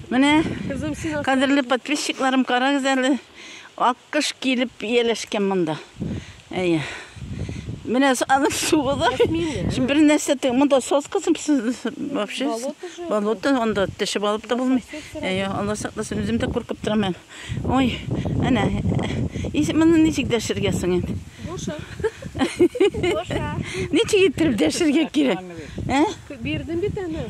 Менә кадерле подписчикларым, карагыз әле, аккыш килеп ияләшкән монда. Әйе. Менә аны суы да. Шим бер нәрсә тек монда соскасын вообще болото анда теше балып та булмый. Әйе, Алла сакласын, үзем дә куркып торам. Ой, әнә. Ис моны ничек дәшергә соң инде? Буша. Буша. Ничек иттереп дәшергә кирәк? Ә? Бирдем бит аны.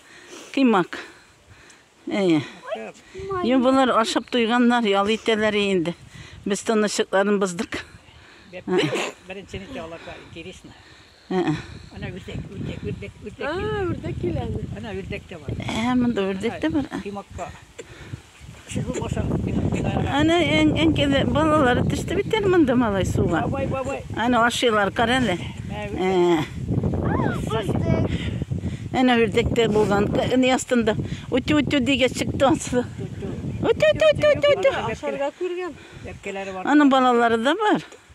Кыймак. Әйе. Йо, болар ашап туйганнар, ял итәләр инде. Без тынычлыкларын боздык. Беренче ничә аларга интересно. Ана үрдәк, үрдәк, үрдәк, үрдәк. А, үрдәк килә. Ана үрдәк тә бар. Ә, монда үрдәк тә бар. Кыймакка. Әнә әнкәле балалары төште бит әле монда малай суга. Бабай, бабай. Әнә ашыйлар, кара әле. Әнә үрдәктә булган не астында. Үтү үтү дигәч чыкты аслы. Үтү үтү үтү үтү. Ашарга күргән. Әнә балалары да бар.